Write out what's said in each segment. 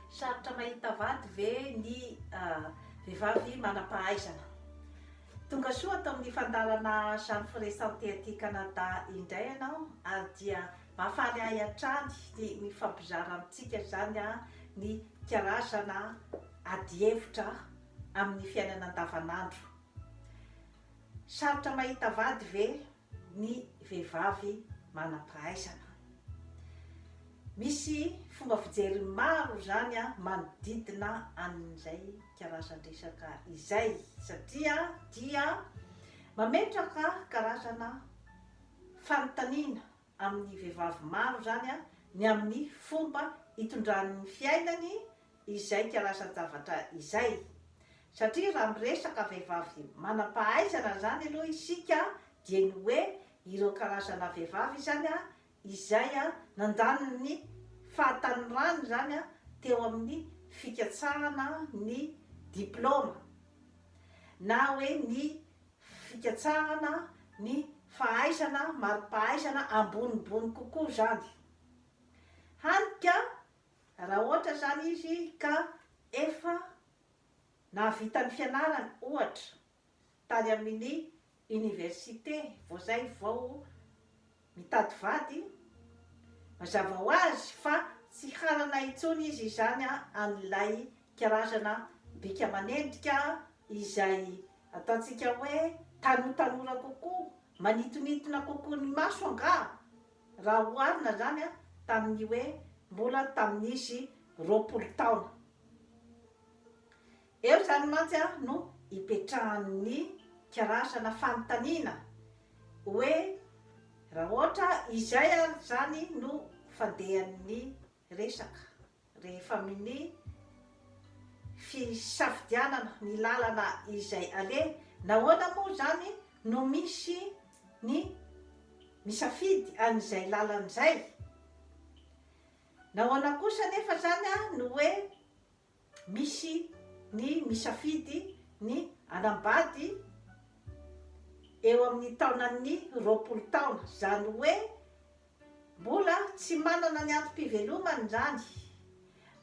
Sarotra mahita vady ve ny vehivavy manam-pahaizana? Tonga soa ato amin'ny fandalana Jeanne Forêt Santé aty Canada indray ianao ary dia mahafaly ahy hatrany ny mifampizara amintsika izany ny karazana adihevitra amin'ny fiainana andavanandro. Sarotra mahita vady ve? ny vehivavy manam-pahaizana. Misy fomba fijery maro izany manodidina an'izay karazan-dresaka izay satria dia mametraka karazana fanontaniana amin'ny vehivavy maro izany ny amin'ny fomba itondran'ny fiainany izay kalasan-javatra izay. Satria raha miresaka vehivavy manam-pahaizana izany aloha isika dia ny hoe ireo karazana vehivavy izany izay nandany ny fahatanorany izany teo amin'ny fikatsahana ny diplaoma na hoe ny fikatsahana ny fahaizana mari-pahaizana ambonimbony kokoa izany. Hany ka Raha ohatra izany izy ka efa nahavita ny fianarany, ohatra, tany amin'ny oniversite vao izay vao mitady vady, mazava ho azy fa tsy hanana intsony izy izany an'ilay karazana bika manendrika izay ataontsika hoe tanotanora kokoa, manitonitona kokoa ny maso angaha? Raha oharina izany tamin'ny hoe mbola tamin'izy roapolo taona eo izany mantsy no ipetrahan'ny karazana fanontaniana hoe raha ohatra izay ary izany no fandehan'ny resaka rehefa minia fisafidianana ny lalana izay aleha, nahoana moa izany no misy ny misafidy an'izay lalana izay? Nahoana kosa anefa izany no hoe Misy ny misafidy ny hanambady eo amin'ny taonan'ny roapolo taona, izany hoe mbola tsy manana ny antom-pivelomany izany,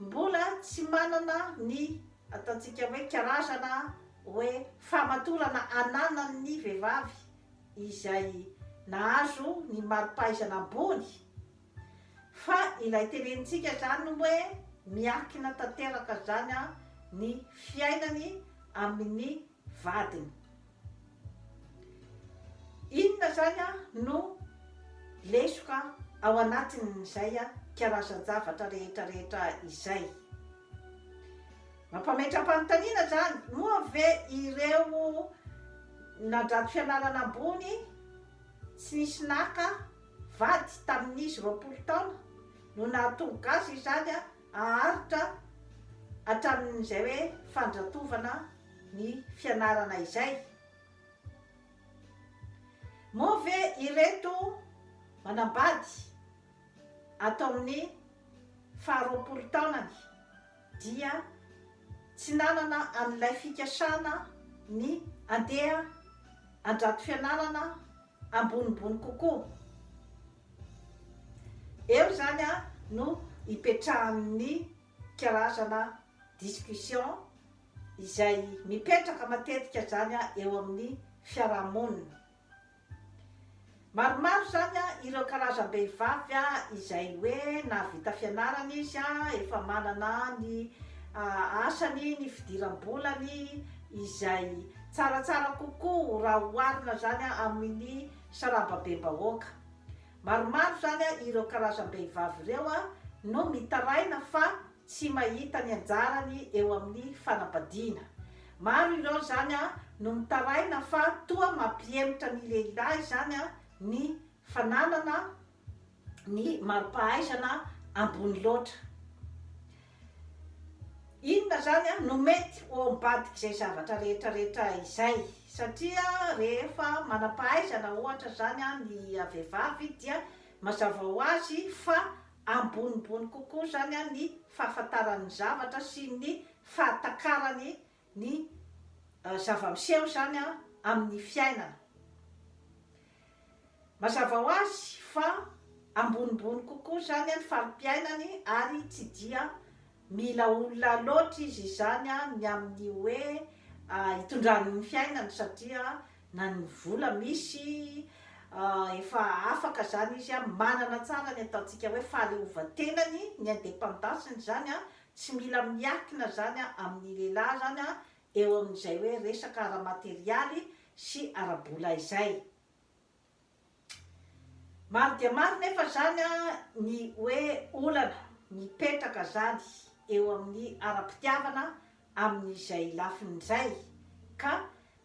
mbola tsy manana ny ataontsika hoe karazana hoe fahamatorana ananan'ny vehivavy izay nahazo ny mari-pahaizana ambony. Fa ilay tenenintsika izany hoe miankina tanteraka izany ny fiainany amin'ny vadiny. Inona izany no lesoka ao anatin'izay karazan-javatra rehetra rehetra izay? Mampametra-panontaniana izany, moa ve ireo nadrato fianarana ambony tsy nisy naka Vady tamin'izy roapolo taona no nahatonga azy izany haharitra hatramin'izay hoe fandratovana ny fianarana izay. Moa ve ireto manambady ato amin'ny faharoapolo taonany dia tsy nanana an'ilay fikasana ny handeha andrato fianarana? ambonimbony kokoa. Eo izany no ipetrahan'ny karazana discussion izay mipetraka matetika izany eo amin'ny fiarahamonina. Maromaro izany ireo karazam-behivavy izay hoe nahavita fianarana izy, efa manana ny asany, ny fidiram-bolany, izay tsaratsara kokoa raha oharina izany amin'ny sarababem-bahoaka. Maromaro izany ireo karazam-behivavy ireo no mitaraina fa tsy mahita ny anjarany eo amin'ny fanambadiana. Maro ireo izany no mitaraina fa toa mampihemotra ny lehilahy izany ny fananana ny mari-pahaizana ambony loatra. Inona izany no mety ho ao ambadik'izay zavatra rehetrarehetra izay? Satria rehefa manam-pahaizana ohatra izany ny vehivavy dia mazava ho azy fa ambonimbony kokoa izany ny fahafantarany ny zavatra sy ny fahatakarany ny zava-miseho izany amin'ny fiainana. Mazava ho azy fa ambonimbony kokoa izany ny fari-piainany ary tsy dia mila olona loatra izy izany ny amin'ny hoe hitondrany ny fiainany satria na ny vola misy efa afaka izany izy manana tsara ny ataontsika hoe fahaleovantenany, ny indépendance-ny izany Tsy mila miankina izany amin'ny lehilahy izany eo amin'izay hoe resaka ara-materialy sy ara-bola izay. Maro dia maro nefa izany ny hoe olana mipetraka izany eo amin'ny ara-pitiavana amin'izay lafiny izay ka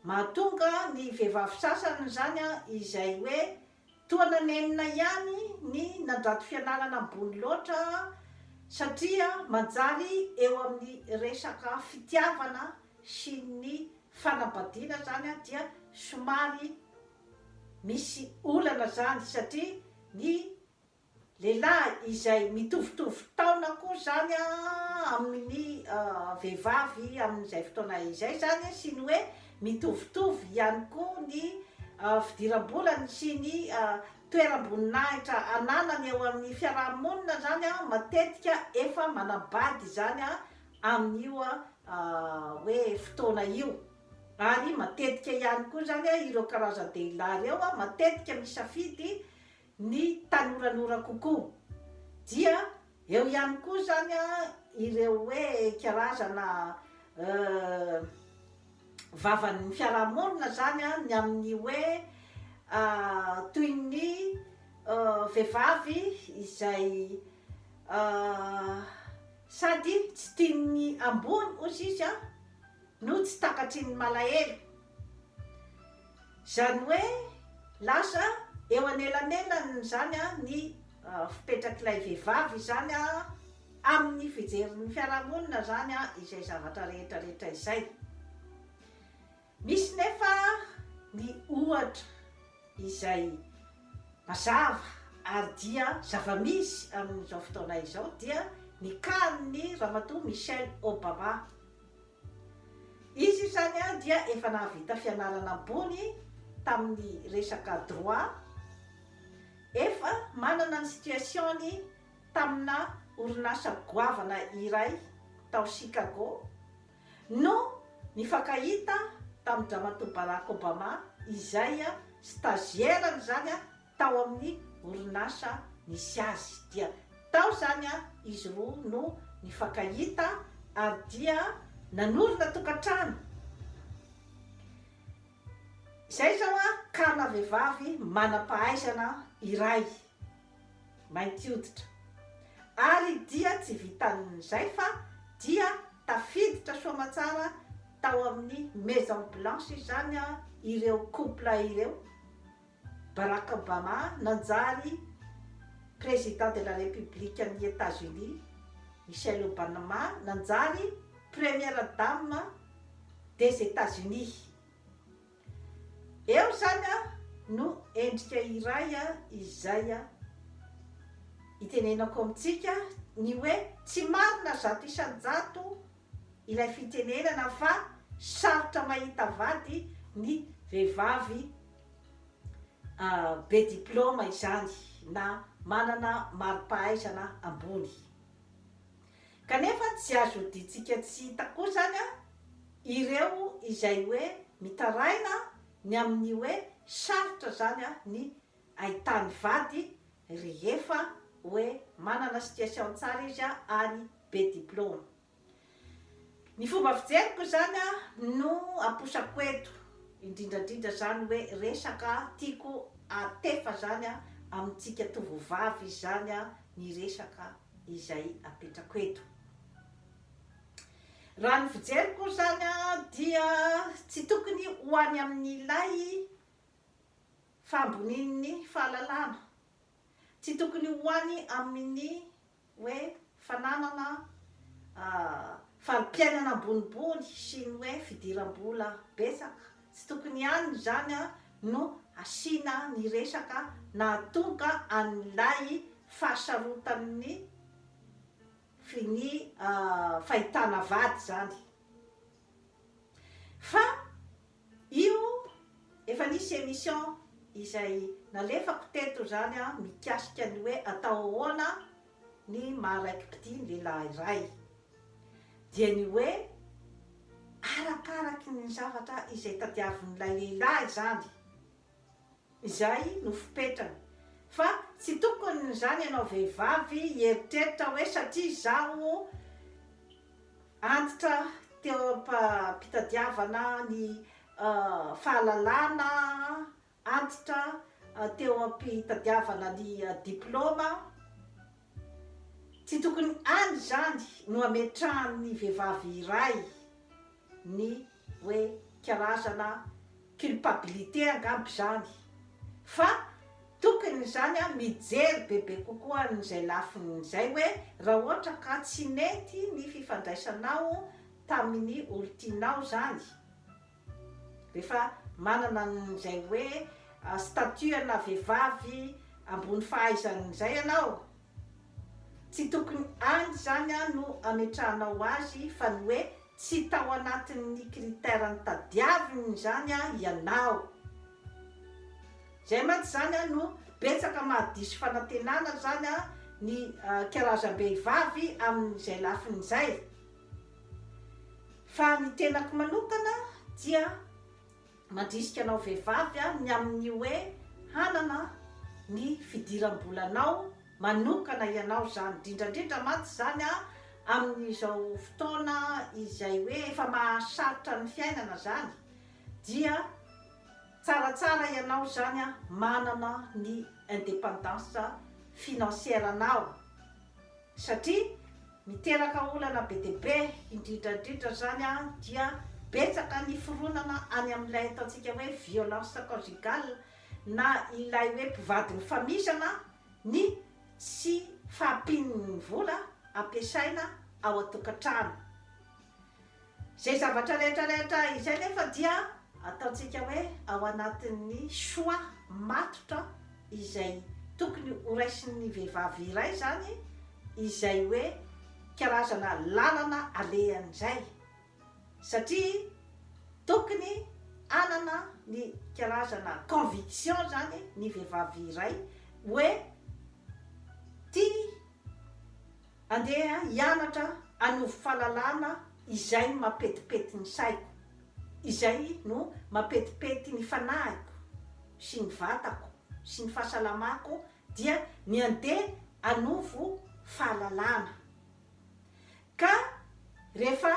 mahatonga ny vehivavy sasany izany izay hoe Toa nanenina ihany ny nandrato fianarana ambony loatra satria manjary eo amin'ny resaka fitiavana sy ny fanambadiana zany dia somary misy olana zany satria ny Lehilahy izay mitovitovy taona koa izany amin'ny vehivavy amin'izay fotoana izay izany sy ny hoe mitovitovy ihany koa ny fidiram-bolany sy ny toeram-boninahitra ananany eo amin'ny fiaraha-monina izany matetika efa manabady izany amin'io hoe fotoana io ary matetika ihany koa izany ireo karazan-dehilahy ireo matetika misafidy ny tanoranora kokoa. Dia eo ihany koa izany ireo hoe karazana vavan'ny fiarahamonina izany ny amin'ny hoe toy ny vehivavy izay sady tsy tian'ny ambony ozy izy an! No tsy takatry ny malahelo. Izany hoe lasa eo anelanelan'izany ny fipetrak'ilay vehivavy izany amin'ny fijerin'ny fiarahamonina izany izay zavatra rehetrarehetra izay. Misy nefa ny ohatra izay mazava ary dia zava-misy amin'izao fotoana izao dia ny kanin'ny Ramatoa Michelle Obama. Izy izany dia efa nahavita fianarana ambony tamin'ny resaka droit, efa manana ny situation-ny tamina orinasa goavana iray tao Chicago no nifankahita tamin-dRamatoa Barack Obama izay stagiaire-ny izany tao amin'ny orinasa nisy azy dia tao izany izy roa no nifankahita ary dia nanorina tokantrano izay izao karina vehivavy manam-pahaizana iray mainty hoditra ary dia tsy vitan'izay fa dia tafiditra soa aman-tsara tao amin'ny maison blanche izany ireo couple ireo. Barack Obama nanjary Président de la République an'i États-Unis, Michelle Obanma nanjary Première Dame des États-Unis. Eo izany no endrika iray izay itenenako amintsika ny hoe tsy marina zato isan-jato ilay fitenenana fa sarotra mahita vady ny vehivavy be diplaoma izany na manana mari-pahaizana ambony. Kanefa tsy azo hoditsika tsy hita koa izany ireo izay hoe mitaraina ny amin'ny hoe sarotra izany ny ahitany vady rehefa oe manana situation tsara izy a ary be diploma. Ny fomba fijeriko izany a no aposako eto indrindrandrindra zany oe resaka tiako atefa zany a amintsika tovovavy izy zany a ny resaka izay apetrako eto. Raha ny fijeriko zany a dia tsy tokony ho any amin'ilay Fahambonian'ny fahalalana. Tsy tokony ho any amin'ny hoe fananana fari-piainana ambonimbony sy ny hoe fidiram-bola betsaka. Tsy tokony any izany no asiana ny resaka nahatonga an'ilay fahasarotan'ny finia fahitana vady izany. Fa. Io efa nisy emission izay nalefako teto izany an mikasika ny hoe atao ahoana ny maha raiki-pitia ny lehilahy iray. Dia ny hoe arakaraky ny zavatra izay tadiavin'ilay lehilahy izany. izay no fipetrany fa tsy tokony izany ianao vehivavy hieritreritra hoe satria izaho antitra teo am-pitadiavana ny fahalalana, antitra teo am-pitadiavana ny diplaoma, tsy tokony any izany no ametrahan'ny vehivavy iray. ny hoe karazana culpabilité angamba izany fa tokony izany an mijery bebe kokoa an'izay lafiny izay hoe raha ohatra ka tsy nety ny fifandraisanao tamin'ny olon-tianao izany rehefa manana an'izay hoe statut ana vehivavy ambony fahaizana izay ianao tsy tokony any izany an no ametrahanao azy fa ny hoe Tsy tao anatin'ny critère nitadiaviny izany ianao. Izay mantsy izany no betsaka mahadiso fanantenana izany ny karazam-behivavy amin'izay lafiny izay. Fa ny tenako manokana dia. Mandrisika anao vehivavy aho ny amin'ny hoe hanana ny fidiram-bolanao manokana ianao izany, indrindra indrindra mantsy izany amin'izao fotoana izay hoe efa mahasarotra ny fiainana izany dia tsaratsara ianao izany manana ny indépendance financière-nao. satria miteraka olana be dia be, indrindra indrindra izany dia betsaka ny fironana any amin'ilay ataontsika hoe violence conjugale na ilay hoe mpivady mifamisana ny tsy fahampian'ny vola ampiasaina ao an-tokantrano. Izay zavatra rehetra rehetra izay nefa dia ataontsika hoe ao anatin'ny choix matotra izay tokony ho raisin'ny vehivavy iray izany izay hoe karazana lalana alehany izay satria tokony hanana ny karazana conviction izany ny vehivavy iray hoe tia Andeha hianatra hanovo fahalalana izay mampetipety ny saiko, izay no mampetipety ny fanahiko sy ny vatako sy ny fahasalamako dia ny andeha hanovo fahalalana. Ka rehefa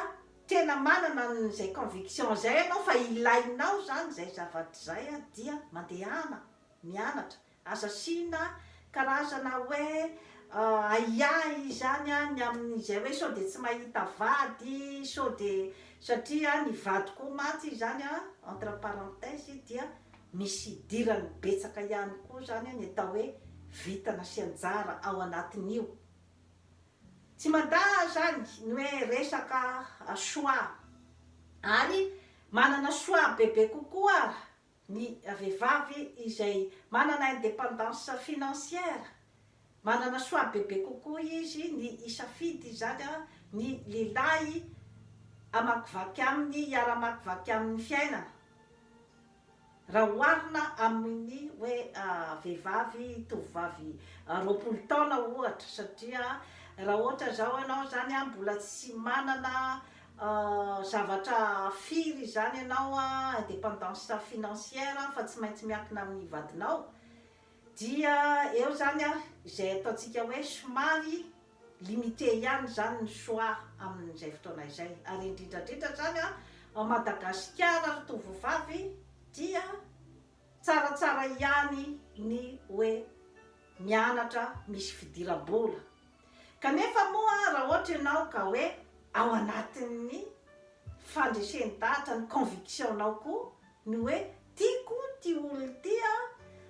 tena manana an'izay conviction izay ianao fa ilainao izany izay zavatra izay dia mandehana mianatra Aza asiana karazana hoe ahiahy izany ny amin'izay hoe sao dia tsy mahita vady, sao dia satria ny vady koa mantsy izany entre parenthèses dia misy idirany betsaka ihany koa izany ny atao hoe vintana sy anjara ao anatin'io. Tsy mandà izany ny hoe resaka choix ary manana choix bebe kokoa ny vehivavy izay manana indépendance financière, manana choix bebe kokoa izy ny hisafidy izany ny lehilahy hamakivaky aminy, hiara-hamakivaky aminy fiainana, raha oharina amin'ny hoe vehivavy, tovovavy roapolo taona ohatra, satria raha ohatra izao ianao izany mbola tsy manana Ahh zavatra firy izany ianao a independance financière fa tsy maintsy miankina amin'ny vadinao dia eo izany a izay ataontsika hoe somary limite ihany izany ny choix amin'izay fotoana izay ary indrindra indrindra izany a ao Madagasikara ry tovovavy dia tsaratsara ihany ny hoe mianatra misy fidiram-bola Kanefa moa raha ohatra ianao ka hoe ao anatin'ny fandresen-dahatra ny conviction-nao koa ny hoe tiako ity olona ity an,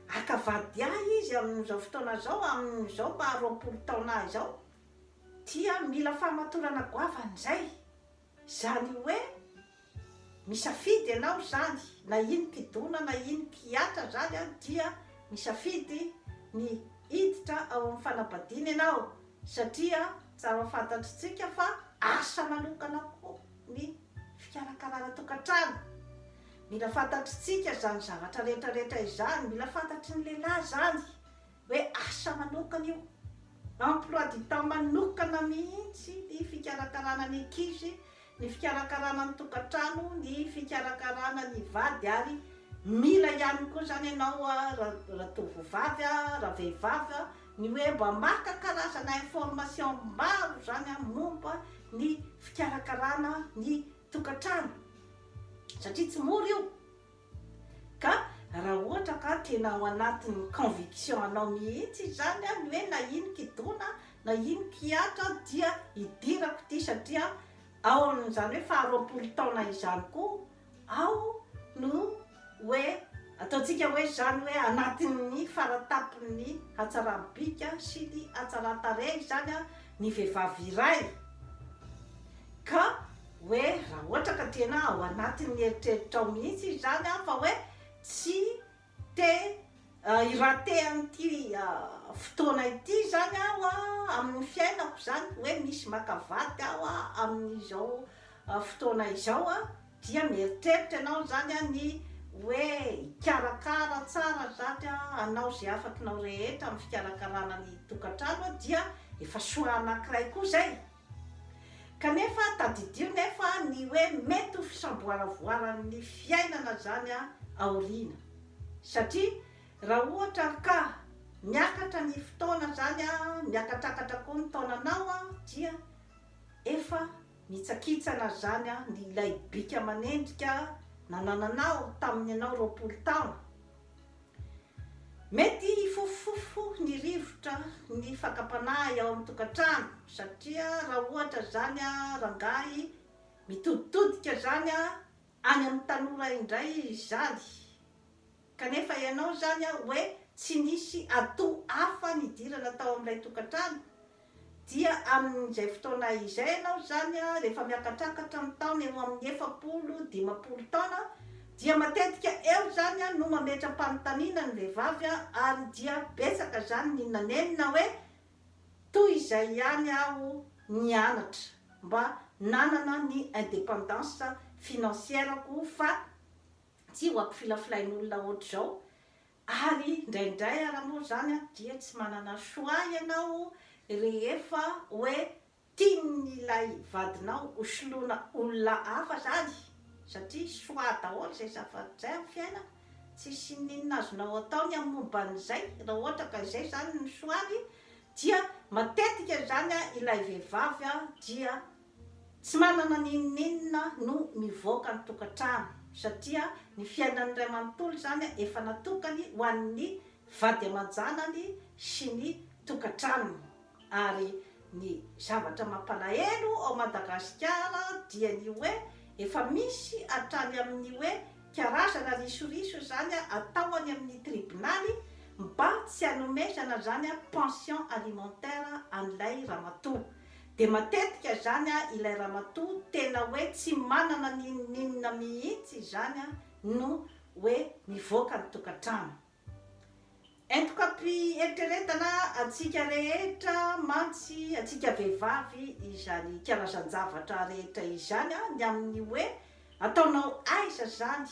haka vady ahy izy amin'izao fotoana izao, amin'izao maha roapolo taona ahy izao, dia mila fahamatorana goavana izay. Izany hoe, misafidy ianao izany, na iny mpidona na iny mpihatra izany dia misafidy ny hiditra ao amin'ny fanambadiana ianao, satria tsara fantatr'tsika fa asa manokana koa ny fikarakarana tokantrano. Mila fantatr'tsika izany zavatra rehetra rehetra izany, mila fantatry ny lehilahy izany, hoe asa manokana io. Emploi du temps manokana mihitsy ny fikarakarana ny ankizy, ny fikarakarana ny tokantrano, ny fikarakarana ny vady ary mila ihany koa izany ianao ratovovavy, ravehivavy, ny hoe mba maka karazana information maro izany momba ny fikarakarana ny tokantrano satria tsy mora io. Ka raha ohatra ka tena ao anatin'ny conviction anao mihitsy izany an, ny hoe na ino kidona na ino kihatra dia idirako ity satria ao amin'izany hoe faharoapolo taona izany koa aho no hoe ataontsika hoe izany hoe anatin'ny faratapon'ny hatsaram-bika sy ny hatsaran-tarehy izany an, ny vehivavy iray ka hoe raha ohatra ka tena ao anatin'ny eritreritrao mihitsy izany an, fa hoe tsy te hi-rater an'ity fotoana ity izany aho an, amin'ny fiainako izany, hoe misy maka vady aho an, amin'izao fotoana izao an, dia mieritreritra ianao izany an, ny hoe hikarakara tsara izany an, hanao izay afakinao rehetra amin'ny fikarakarana ny tokantrano an, dia efa choix anankiray koa izay. Kanefa tadidio nefa ny hoe mety ho fisamboaravoaran'ny fiainana izany aoriana. Satria raha ohatra ka miakatra ny fotoana izany, miakatrakatra koa ny taonanao dia efa mitsakitsana izany ny ilay bika aman'endrika nanananao tamin'ny ianao roapolo taona. Mety hifofofofo ny rivotra ny fakam-panahy ao amin'ny tokantrano satria raha ohatra izany rangahy mitoditodika izany any amin'ny tanora indray izany kanefa ianao izany hoe tsy nisy atoa hafa nidirana tao amin'ilay tokantrano Dia amin'izay fotoana izay ianao izany, rehefa miakatrakatra ny taona eo amin'ny efapolo, dimampolo taona, dia matetika eo izany no mametra-panontaniana ny vehivavy ary dia betsaka izany ny nanenina hoe, toy izay ihany aho nianatra mba nanana ny indépendance financière-ko fa tsy ho ampifilafilain'olona hoatr'izao, Ary indraindray ara moa izany dia tsy manana choix ianao rehefa hoe tian'ilay vadinao ho soloina olona hafa izany satria choix daholo izay zavatra izay amin'ny fiainana, tsisy n'inona azonao atao ny amin'ny momba an'izay raha ohatra ka izay izany no choix-ny dia matetika izany ilay vehivavy dia Tsy manana ny inon'inona no mivoaka ny tokantrano satria ny fiainan'ny ray manontolo izany efa natokany ho an'ny vady aman-janany sy ny tokantranony ary ny zavatra mampalahelo ao Madagasikara dia ny hoe efa misy hatrany amin'ny hoe karazana risoriso izany atao any amin'ny tribonaly mba tsy hanomezana izany pension alimentaire an'ilay ramatoa Dia matetika izany an ilay ramatoa tena hoe tsy manana n'inon'inona mihitsy izany an no hoe mivoaka ny tokantrano. Entokam-piheritreretana antsika rehetra mantsy antsika vehivavy izany karazan-javatra rehetra izany an ny amin'ny hoe ataonao aiza izany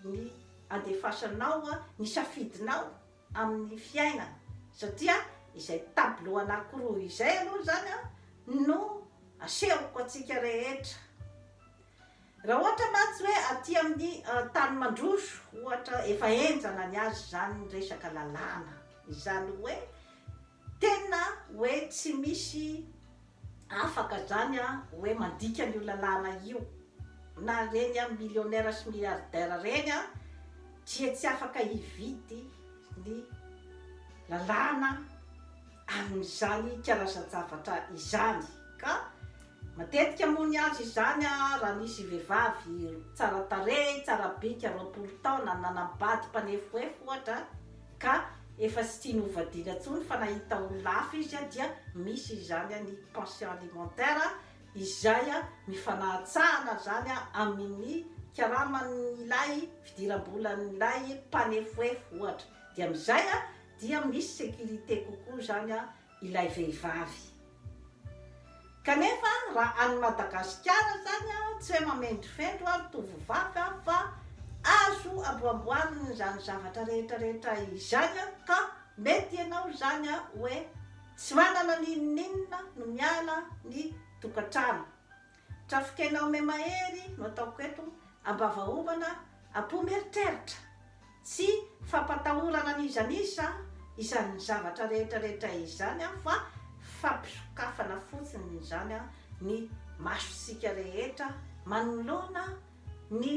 ny andefasanao ny safidinao amin'ny fiainana satria izay tableau anankiroa izay aloha izany no asehoko antsika rehetra. Raha ohatra mantsy hoe aty amin'ny tany mandroso ohatra efa henjana ny azy izany ny resaka lalàna, izany hoe Tena oe tsy misy afaka zany oe mandika an'io lalàna io na reny millionnaire sy milliardaire reny dia tsy afaka hividy ny lalàna amin'izany karazan-javatra izany ka matetika moa ny azy izany raha nisy vehivavy tsara tarehy, tsara bika roapolo taona nanambady mpanefoefo ohatra, ka efa tsy tiany ho vadiana intsony fa nahita olona hafa izy dia misy izany ny pension alimentaire izay mifanahantsahana izany amin'ny karaman'ilay fidiram-bolan'ilay mpanefoefo ohatra dia amin'izay dia misy sécurité kokoa izany ilay vehivavy. Kanefa raha any Madagasikara zany a, tsy hoe mamendrofendro ary tovovavy aho fa azo amboamboarina izany zavatra rehetra rehetra izany a, ka mety ianao izany a hoe tsy manana n'inon'inona no miala ny tokantrano. Trafonkena ome mahery no ataoko eto, ambavahovana, apo mieritreritra, tsy fampatahorana an'iza n'iza izany zavatra rehetra rehetra izany aho fa fampisokafana fotsiny izany ny masontsika rehetra manoloana ny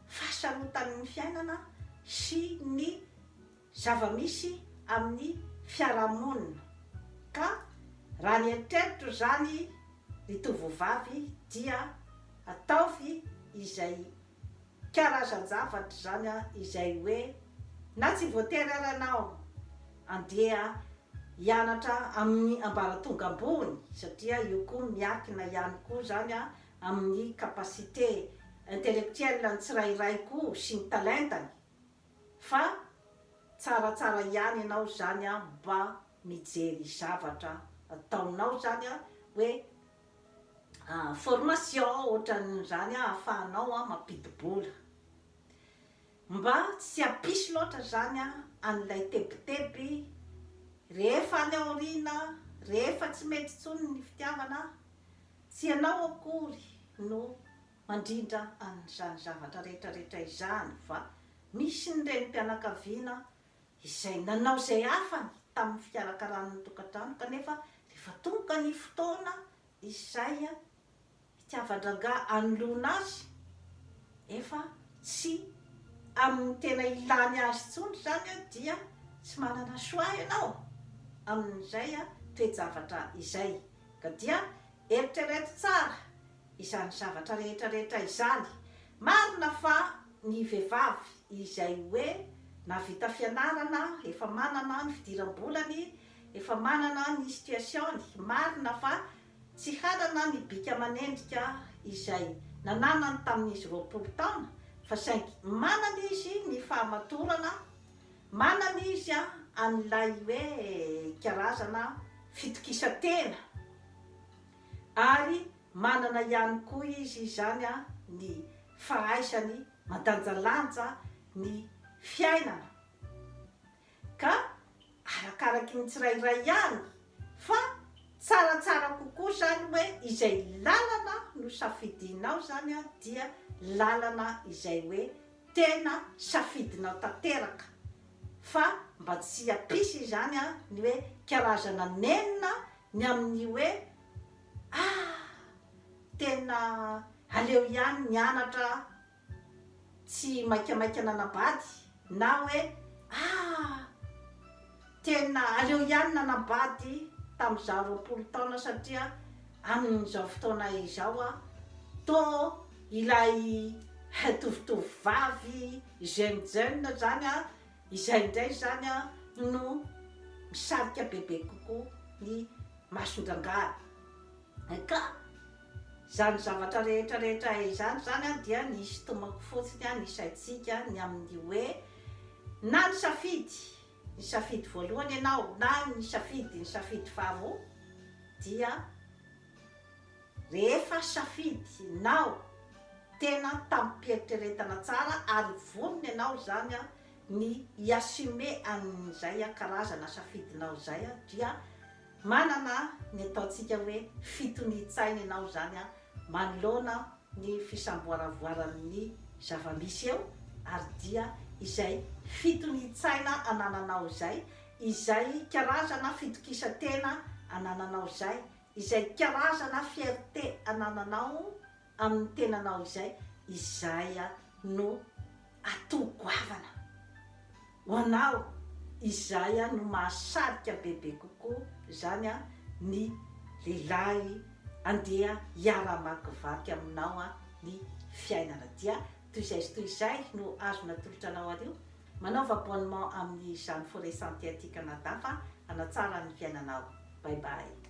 fahasarotan'ny fiainana sy ny zava-misy amin'ny fiarahamonina ka raha ny eritreritra izany ny tovovavy dia ataovy izay karazan-javatra izany izay hoe na tsy voatery ary ianao andeha hianatra amin'ny ambaratonga ambony satria io koa miakina ihany koa izany amin'ny capacité intellectuelle ny tsirairay koa sy ny talentany. Fa tsaratsara ihany ianao zany an mba mijery zavatra ataonao zany an hoe formation ohatran'izany an afahanao an mampidi-bola. Mba tsy apisy loatra zany an an'ilay tebiteby rehefa any aoriana rehefa tsy mety intsony ny fitiavana an tsy ianao akory no Mandrindra an'izany zavatra rehetra rehetra izany va misy ny renim-pianakaviana izay nanao izay hafany tamin'ny fikarakarana ny tokantrano kanefa rehefa tonga ny fotoana izay hitiavan-drangahy hanoloana azy efa tsy amin'ny tena ilany azy intsony izany dia tsy manana choix ianao amin'izay toe-javatra izay ka dia eritrereto tsara izany zavatra rehetra rehetra izany, marina fa ny vehivavy izay hoe navita fianarana efa manana ny fidiram-bolany, efa manana ny situation-ny, marina fa tsy hanana ny bika aman'endrika izay nananany tamin'izy roapolo taona fa saingy manana izy ny fahamatorana, manana izy an'ilay hoe karazana fitokisan-tena ary manana ihany koa izy izany ny fahaisany mandanjalanja ny fiainana ka arakaraky ny tsirairay ihany fa tsaratsara kokoa izany hoe izay lalana no safidinao izany dia lalana izay hoe Tena safidinao tanteraka fa mba tsy hampisy izany ny hoe karazana nenina ny amin'ny hoe ah tena aleo ihany nianatra tsy maikamaika nanabady na hoe ah. Tena aleo ihany nanambady tamin'izaho roapolo taona satria amin'izao fotoana izao aho toa ilay tovotovovavy jeune jeune izany aho, izay indray izany aho no misarika bebe kokoa ny mason-drangahy. Ka izany zavatra rehetra rehetra izany izany aho dia ny hisintomako fotsiny ny saintsika ny amin'ny hoe na nisafidy ny safidy voalohany ianao na ny safidy ny safidy faharoa dia rehefa safidy nao tena tamim-pieritreretana tsara ary vonona ianao izany ny hi-assumer an'izay karazana safidinao izay dia Manana ny ataontsika hoe fitonian-tsaina ianao izany manoloana ny fisamboaravoaran'ny zava-misy eo ary dia izay fitonian-tsaina anananao izay, izay karazana fitokisan-tena anananao izay, izay karazana fierté anananao amin'ny tenanao izay, izay no atao goavana ho anao, izay no mahasarika bebe kokoa, izany ny lehilahy andeha hiara-hamakivaky aminao ny fiainana. Dia toy izay sy toy izay no azony atolotra anao ary io. Manaova abonnement amin'izany Forêt Santé aty Canada fa hanatsara ny fiainanao. Bye bye.